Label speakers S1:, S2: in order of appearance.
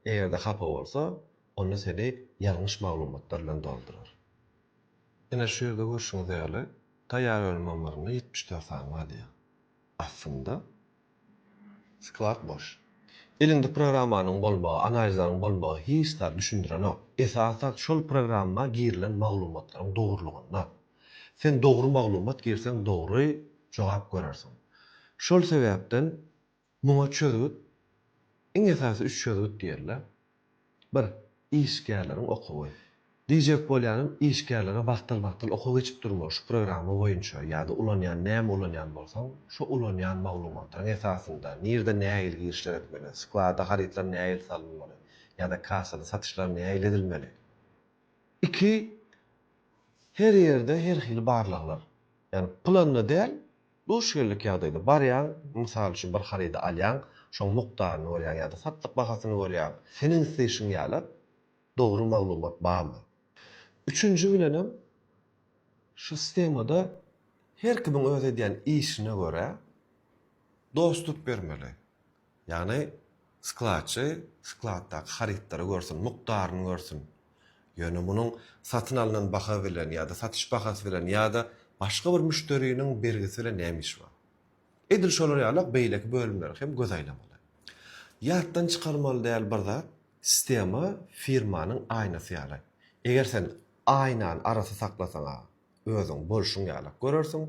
S1: Eger-de hapa bolsa, onda seni ýalňyş maglumatlar bilen doldurar. Ine, şu ýerde görşüňiz ýaly, taýýar önüm ammarynda ýetmiş dört sany bar diýýär. Aslynda, sklad boş. Elinde programmanyň bolmagy, analizleriň bolmagy hiç zat düşündirenok. Esasy zat şol programma girilen maglumatlaryň dogrulygynda. Sen dogry maglumat girseň dogry jogap görersiň. Şol sebäpden. Muňa çözgüt, iň esasy üç çözgüt diýerler. Bir, işgärleriň okuwy. Diýjek bolýanym, işgärlere wagtal-wagtal okuw geçip durmaly şu programma boýunça ýa-da ulanýan näme ulanýan bolsaň, şo ulanýan maglumatlaryň esasynda, nirde nähili girişler etmeli, sklada harytlar nähili salynmaly ýa-da kassada satyşlar nähili edilmeli. Iki, her ýerde her hili barlaglar. Ýagny, pylanda däl, Duş geldik ýagdaýda barýaň, mysal üçin bir harydy alýaň, şoň mukdaryny görýäň ýa-da satlyk bahasyny görýäň. Seniň isleýşiň ýaly dogry maglumat barmy? Üçünji bilenem şu stemada her kimiň öz edýän işine görä dostup bermeli. Ýagny, skladçy skladdaky harytlary görsün, mukdaryny görsün. Ýöne munuň satyn alnan baha bilen ýa-da satyş bahasy bilen ýa-da başga bir müşderiniň bergisi bilen näme işi bar? Edil şolar ýaly-ak beýleki bölümleri hem göz aýlamaly. Ýatdan çykarmaly däl bir zat, sistema firmanyň aýnasy ýaly. Eger sen aýnany arassa saklasaň-a, özüň bolşuň ýaly-ak görersiň,